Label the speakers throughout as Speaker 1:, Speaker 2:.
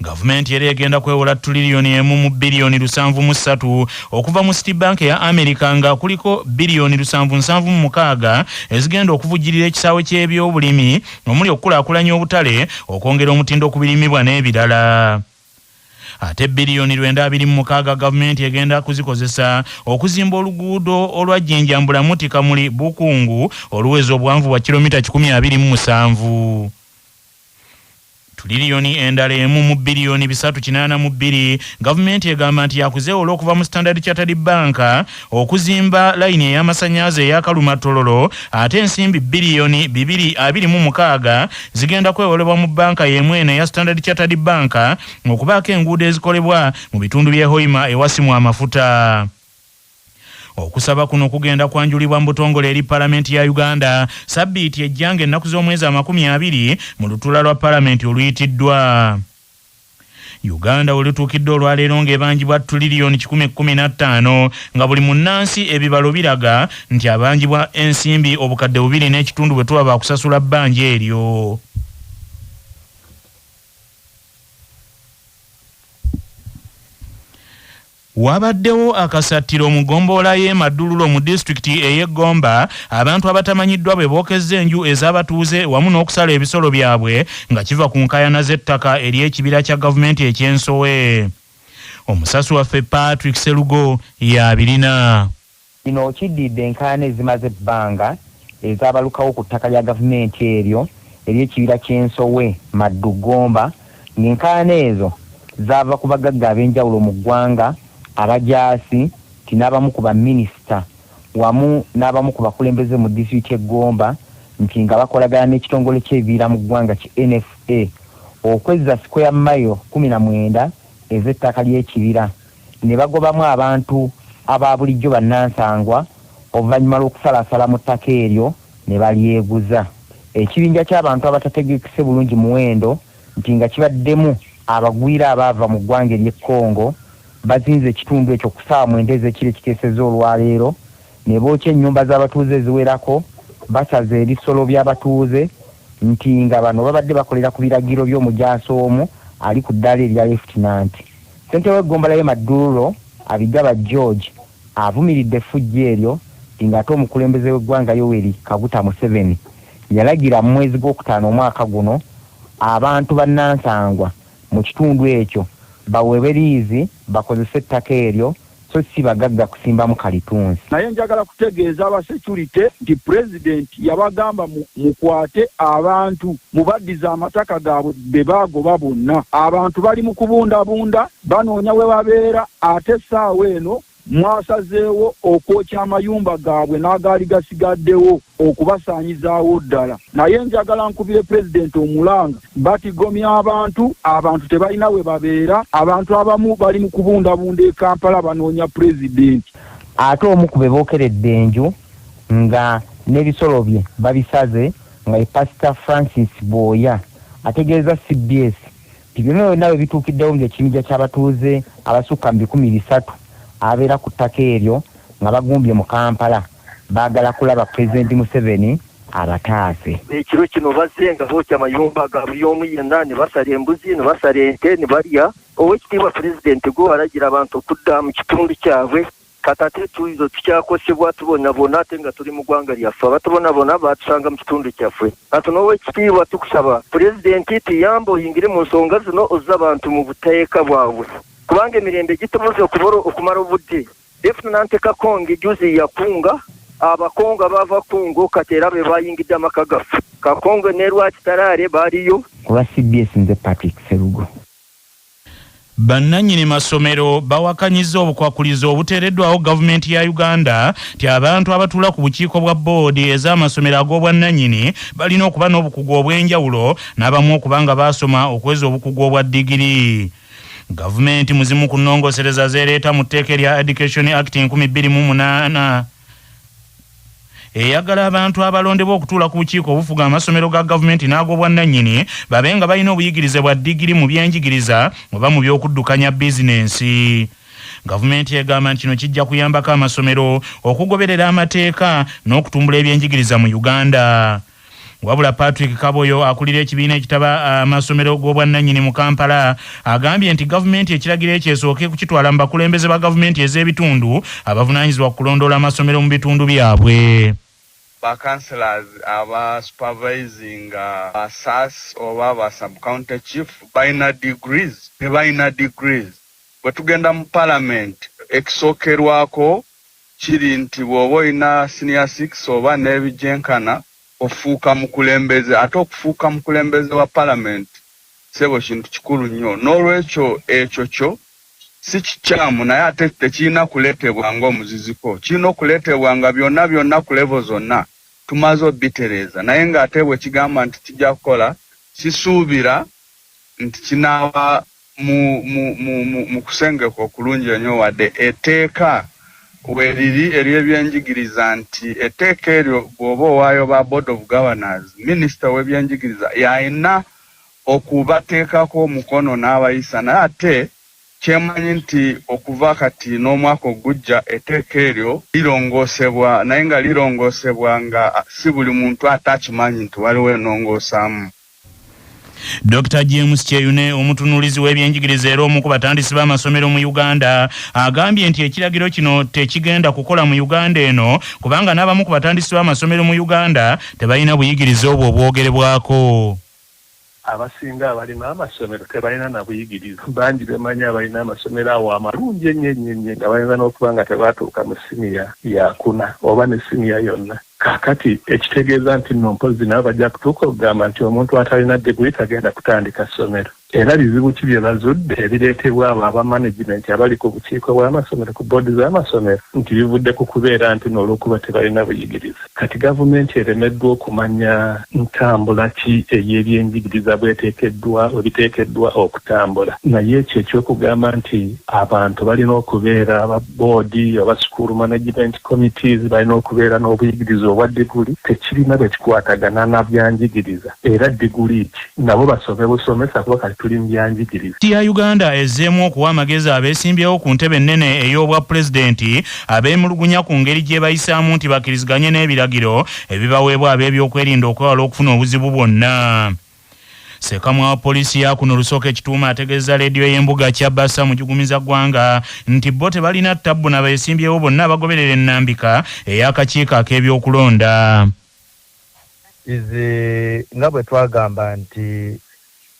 Speaker 1: Gavumenti era egenda kwewola tuliriyoni emu mu biriyoni lusanvu mu ssatu okuva mu City Bank ya Amerika nga kuliko biriyoni lusanvu nsanvu mu mukaaga ezigenda okuvujjirira ekisaawe ky'ebyobulimi omuli okukulaakulanya obutale, okwongera omutindo ku birimibwa n'ebirala. Ate biriyoni lwenda abiri mu mukaaga gavumenti egenda kuzikozesa okuzimba oluguudo olwa Jinja Mbulamuti Kamuli Bukungu oluweza obuwanvu bwa kiromita kikumi abiri mu musanvu. tuliliyoni endala emu mu biliyoni bisatu kinaana mu bbiri gavumenti egamba nti yakuzeewola okuva mu standard chartered bank okuzimba layini ey'amasannyalaze eyakaluma tololo ate ensimbi biliyoni bibiri abiri mu mukaaga zigenda kwewolebwa mu banka y'emu eno eya standard chartered bank okubaako enguudo ezikolebwa mu bitundu by'e hoima ewasimwa amafuta Okusaba kuno kugenda kwanjulibwa mu butongole eri Palamenti ya Uganda sabbiiti ejja ng'ennaku z'omwezi amakumi abiri mu lutuula lwa Palamenti oluyitiddwa. Uganda we lutuukidde olwaleero ng'ebanjibwa tuliriyoni kikumi kkumi na ttaano nga buli munnansi ebibalo biraga nti abanjibwa ensimbi obukadde bubiri n'ekitundu bwe tuba baakusasula bbanja eryo. Wabaddewo akasattiro mu gombolola y'e Madululo mu disitulikiti ey'e Gomba, abantu abatamanyiddwa bwe bookezza enju ez'abatuuze wamu n'okusala ebisolo byabwe nga kiva ku nkaayana z'ettaka ery'ekibira kya gavumenti eky'e Nsowe. Omusasi waffe Patrick Sserugo y'abirina. Kino
Speaker 2: kiddiridde enkaayana ezimaze ebbanga ezaabalukawo ku ttaka lya gavumenti eryo ery'ekibira ky'e Nsowe, Maddu, Gomba ng'enkaayana ezo zaava ku bagagga ab'enjawulo mu ggwanga, abajaasi nti n'abamu ku baminisita wamu n'abamu ku bakulembeze mu disitulikiti y'e Gomba nti nga bakolagana n'ekitongole ky'ebibira mu ggwanga ki NFA okwezza sikweya mailo kkumi na mwenda ez'ettaka ly'ekibira. ne bagobamu abantu aba bulijjo bannansangwa oluvannyuma lw'okusalaasala mu ttaka eryo ne balyeguza. Ekibinja ky'abantu abatategekese bulungi muwendo nti nga kibaddemu abagwira abaava mu ggwanga ery'e Congo bazinze ekitundu ekyo ku ssaawa mwenda ez'ekiro ekikeesezza olwaleero ne bookya ennyumba z'abatuuze eziwerako basaze ebisolo by'abatuuze nti nga bano babadde bakolera ku biragiro by'omujaasi omu ali ku ddaala erya Lefutinanti. Ssentebe w'eggombolola ye Maddululo Abigaba George avumiridde effujjo eryo di ng'ate omukulembeze w'eggwanga Yoweri Kaguta Museveni yalagira mu mwezi gw'okutaano omwaka guno abantu bannansangwa mu kitundu ekyo baweebwe liizi bakozese ettaka eryo so si bagagga kusimbamu kalitunsi. Naye njagala kutegeeza
Speaker 3: aba security nti president yabagamba mu mukwate abantu mubaddize amataka gabwe bebagoba bonna. Abantu bali mu kubundabunda banoonya webabeera ate essaawa eno mwasazeewo okwokya amayumba gabwe n'agaali gasigaddewo. okubasaanyizaawo ddala naye njagala nkubire Pulezidenti omulanga batigomya abantu, abantu tebalina we babeera, abantu abamu bali mu kubundabunda e Kampala banoonya Pulezidenti. Ate omu
Speaker 2: ku be bookeredde enju nga n'ebisolo bye babisaze nga ye Pasita Francis Bwoya ategeezza cbs nti byonna byonna bwe bituukiddewo nga ekibinja ky'abatuuze abasukka mu bikumi bisatu ababeera ku ttaka eryo nga bagumbye mu Kampala baagala kulaba Pulezidenti Museveni abataase. Ekiro kino
Speaker 4: bazze nga bookya amayumba ga buli omu yenna ne basala embuzi ne basala ente ne balya. Oweekitiibwa Pulezidenti gwe walagira abantu okudda mu kitundu kyabwe kati ate etuuizo tukyakosebwa tubonabona ate nga tuli mu ggwanga lyaffe abatubonabona baatusanga mu kitundu kyaffe kati n'oweekitiibwa tukusaba Pulezidenti tuyambe oyingire mu nsonga zino ozze abantu mu buteeka bwabwe kubanga emirembe gitubuze okubora okumala obudde David Nanteka Kongi juzi yakunga abakongo abaava Congo kati era be bayingidde amaka gaffe. Kakonge ne Rwakitaraare baliyo. Ku lwa cbs
Speaker 2: nze Patrick Sserugo. Bannanyini
Speaker 1: masomero bawakanyizza obukwakulizo obuteereddwawo gavumenti ya Uganda nti abantu abatuula ku bukiiko bwa bboodi ez'amasomero ag'obwannanyini balina okuba n'obukugu obw'enjawulo n'abamu okuba nga baasoma okweza obukugu obwa digiri. Gavumenti mu zimu ku nnongosereza z'ereeta mu tteeka erya Education Act enkumi bbiri mu munaana, eyagala abantu abalondebwa okutuula ku bukiiko obufuga amasomero ga gavumenti n'ag'obwannannyini babe nga balina obuyigirize bwa digiri mu byenjigiriza oba mu by'okuddukanya bizinensi. Gavumenti egamba nti kino kijja kuyambako amasomero okugoberera amateeka n'okutumbula ebyenjigiriza mu Uganda. Wabula Patrick Kaboyo akulira ekibiina ekitaba amasomero g'obwannannyini mu Kampala agambye nti gavumenti ekiragiro ekyo esooke kukitwala mu bakulembeze ba gavumenti ez'ebitundu abavunaanyizibwa ku kulondoola amasomero mu bitundu byabwe. Ba
Speaker 5: councillors aba supervisinga ba sas oba ba sub county chief balina degrees? Tebalina degrees. Bwetugenda mu parliament ekisookerwako kiri nti bwoba olina senior six oba nebigyenkana ofuuka mukulembeze ate okufuuka mukulembeze wa parliament ssebo kintu kikulu nnyo nolwekyo ekyo kyo si kikyamu naye ate tekirina kuletebwa nga omuziziko kirina okuletebwa nga byonna byonna ku level zonna tumaze obitereeza naye nga ate bwekigamba nti kijja kukola sisuubira nti kinaaba Mu, mu, mu, mu, mu kusengeka okulungi enyo, wadde eteeka weriri ery'ebyenjigiriza nti eteeka eryo bwoba owaayo ba Board of Governors, Minister w'ebyenjigiriza y'alina okubateekako omukono n'abayisa, naye ate kyemanyi nti okuva kati n'omwaka ogujja eteeka eryo lirongoosebwa, naye nga lirongoosebwa nga si buli muntu ate akimanyi nti waliwo enongoosaamu.
Speaker 1: Dokita James Kyeyune omutunuulizi w'ebyenjigiriza era omu ku batandisi b'amasomero mu Uganda agambye nti ekiragiro kino tekigenda kukola mu Uganda eno kubanga n'abamu ku batandisi b'amasomero mu Uganda tebalina buyigirize obwo obwogerebwako.
Speaker 6: Abasinga abalina amasomero tebalina na buyigirize. Bangi be mmanyi abalina amasomero awo amalungi ennyo ennyo ennyo nga bayinza n'okuba nga tebaatuuka mu siniya yaakuna oba ne siniya yonna. Kaakati, ekitegeeza nti nno mpozzi nabo bajja kutuuka okugamba nti omuntu atalina diguli tagenda kutandika ssomero. Era bizibu ki bye bazudde ebireetebwa abo aba manegimenti abali ku bukiiko bw'amasomero ku bboodi z'amasomero nti bivudde ku kubeera nti nno olw'okuba tebalina buyigirize, kati gavumenti eremeddwa okumanya ntambula ki ey'ebyenjigiriza bw'eteekeddwa, bwe biteekeddwa okutambula. Naye ekyo eky'okugamba nti abantu balina okubeera aba bboodi oba sikuulu manegimenti, Committees balina okubeera n'obuyigirize obwa diguli tekirina bwe kikwatagana na byanjigiriza era diguli ki nabo basome busomesa kuba kati tuli mu byanjigiriza. ya Uganda
Speaker 1: ezzeemu okuwa amagezi abeesimbyewo ku ntebe ennene ey'obwa Pulezidenti abeemulugunya ku ngeri gyebayisaamu nti bakiriziganye n'ebiragiro ebibaweebwa ab'ebyokwerinda okwewala okufuna obuzibu bwonna. Sekamwa wa poliisi ya kuno Lusooka Ekituuma ategeezza leediyo y'embuga Kyabasa mu Jugumiza Ggwanga nti bo tebalina ttabbu na beesimbyewo bonna abagoberera ennambika ey'akakiiko ak'ebyokulonda. Izi
Speaker 7: nga bwe twagamba nti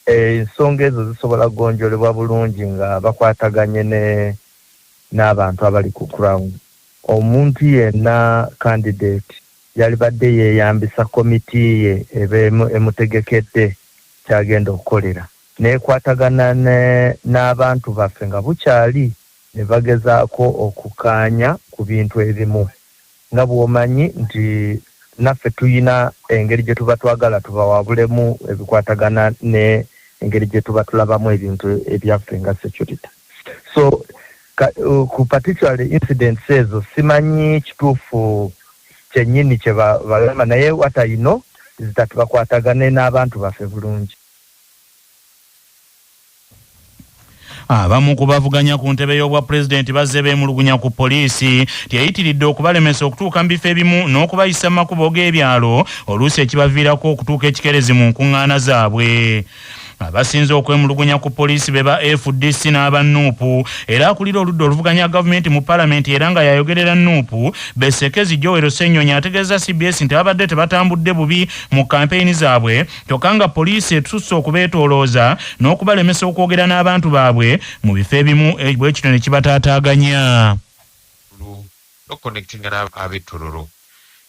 Speaker 7: ensonga ezo zisobola kugonjolebwa bulungi nga bakwataganye n'abantu abali ku ground. Omuntu yenna candidate Yalibadde yeeyambisa komiti ye eba emutegekedde ky'agenda okukolera n'ekwatagana n'abantu baffe nga bukyali ne bagezaako okukkaanya ku bintu ebimu. Nga bw'omanyi nti naffe tulina engeri gye tuba twagala tubawabulemu ebikwatagana n'engeri gye tuba tulabamu ebintu ebyaffe nga securite. so ku particularly incidents ezo simanyi kituufu kyenyini kyebalama naye what I know is that bakwatagane n'abantu baffe bulungi.
Speaker 1: Abamu ku bavuganya ku ntebe y'obwa pulezidenti bazze beemulugunya ku poliisi nti eyitiridde okubalemesa okutuuka mu bifo ebimu n'okubayisa mu makubo g'ebyalo oluusi ekibaviirako okutuuka ekikeerezi mu nkuŋŋaana zaabwe. abasinze okwemulugunya ku poliisi be ba fdc n'aba nuupu era akulira oludda oluvuganya gavumenti mu palamenti era nga yayogerera nuupu besekezi jowero senyonyi ategeeza cbs nti babadde tebatambudde bubi mu kampeyini zaabwe kyokka nga poliisi etususse okubeetoolooza n'okubalemesa okwogera n'abantu baabwe mu bifo ebimu eh, bwe kino ne kibataataaganya no
Speaker 8: connecting na abe tororo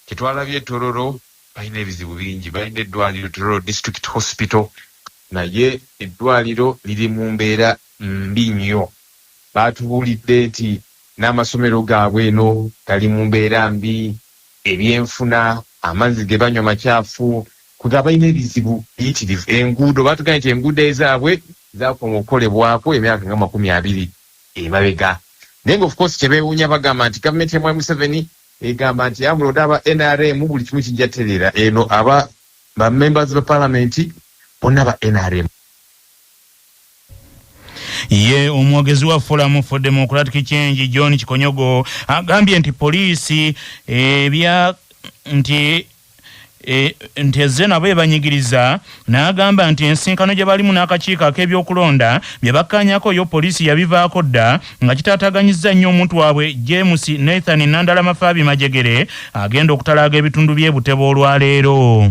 Speaker 8: kitwala bye tororo Balina ebizibu bingi, balina eddwaliro Tororo District Hospital naye eddwaliro liri mu mbeera mbi nnyo. Baatubuulidde nti n'amasomero gaabwe eno gali mu mbeera mbi, ebyenfuna, amazzi ge banywa macaafu kwegaa balina ebizibu biyitirivu. Enguudo baatugambye nti enguudo ezaabwe zaakoma okukolebwako emyaka nga makumi abiri emabega naye nga of course kye beewuunya bagamba nti gavumenti ya Mwami Museveni, Egamba nti yabula oda aba nrm buli kimu kijja tereera eno aba ba members ba parliament bonna ba nrm.
Speaker 1: Yye omwogezi wa Forum for Democratic Change John Kikonyogo agambye nti poliisi ebya nti E, nti ezze nabo ebanyigiriza n'agamba nti ensinkano gye balimu n'akakiiko ak'ebyokulonda bye bakkaanyako yo poliisi yabivaako dda nga kitaataganyizza nnyo omuntu waabwe james nathan nandala mafaabi majegere agenda okutalaaga ebitundu by'e buteba olwaleero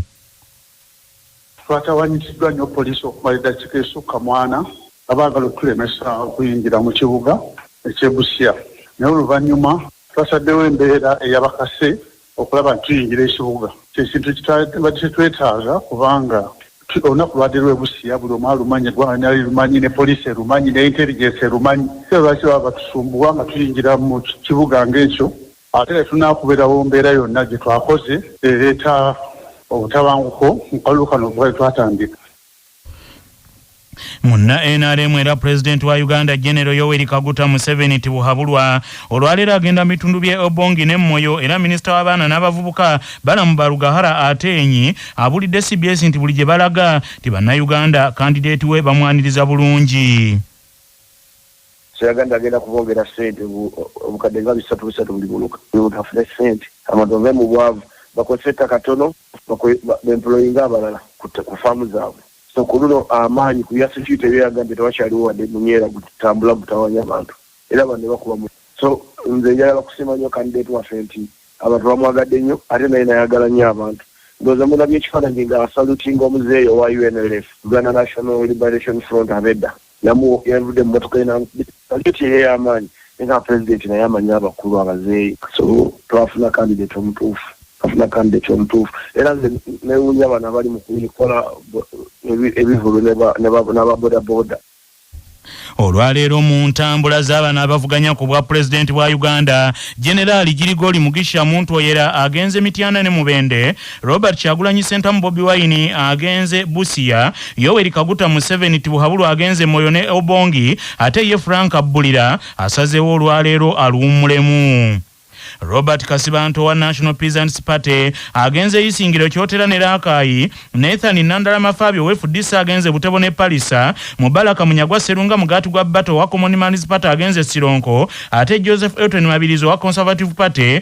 Speaker 9: twatawanyiziddwa nnyo poliisi okumala eddakiika esukka mwana nga baagala okutulemesa okuyingira mu kibuga ekyebusia naye oluvannyuma twasaddewo embeera eyabakase okulaba nti tuyingira ekibuga kyekintu ekitabadde kitwetaaga kubanga olunaku lwabadde lwe busiya buli omu alumanyi eggwanga lyona lirumanyi ne poliisi erumanyi ne intelligence erumanyi era lwaki baba batusumbuwa nga tuyingira mu kibuga ng'ekyo ate ne tunaakuberawo mbeera yonna gye twakoze ereeta obutabanguko mu kalulu kano kuba tetwatandika
Speaker 1: Munna nrm era pulezidenti wa Uganda Genero Yoweri Kaguta Museveni Tibuhaburwa olwaleero agenda mu bitundu bye Obongi ne Moyo era minisita w'abaana n'abavubuka Balamu Barugahara Ateenyi abulidde cbs nti buli gye balaga nti bannayuganda kandideeti we bamwaniriza bulungi.
Speaker 10: Seraganda agenda kubongera ssente obukadde nga bisatu bisatu buli muluka bafune ssente abantu bave mu bwavu bakozese ettaka ttono bemployinge abalala ku faamu zaabwe. So ku luno amaanyi ku bya security bye yagambye tewakyaliwo wadde munyeera gutambula gutawaanya abantu era banne bakuba mu so nze njagala kusiima nnyo candidate waffe nti abantu bamwagadde nnyo ate naye nayagala nnyo abantu ndowooza mulabye ekifaananyi nga asalutinga omuzeeyi owa UNLF, Uganda National Liberation Front abedda Namuwogo yavudde mu mmotoka ye n'amukubita lifuti ey'amaanyi naye nga Pulezidenti naye amanyi abakulu abazeeyi so twafuna kandideti omutuufu twafuna kandideti omutuufu era nze newuunya bano abali mu kukola ebivulu n'aba bodaboda.
Speaker 1: Olwaleero mu ntambula za bano abavuganya ku bwa Pulezidenti bwa Uganda, Generaali Girigori Mugisha Muntu Oyera agenze Mityana ne Mubende, Robert Kyagulanyi Sentamu Bobi Wine agenze Busia, Yoweri Kaguta Museveni Tibuhaburwa agenze Moyo ne Obongi ate ye Frank Abbulira asazeewo olwaleero aluwummulemu. Robert Kasibante owa National Peasants Party agenze Isingiro, Kyotera ne Rakai, Nathan Nandala Mafaabi owa fdc agenze Butebo ne Pallisa, Mubaraka Munyagwa Sserunga Mugaati gwa Bata owa Common Man's Party agenze Sironko ate Joseph Elton Mabirizi owa Conservative Party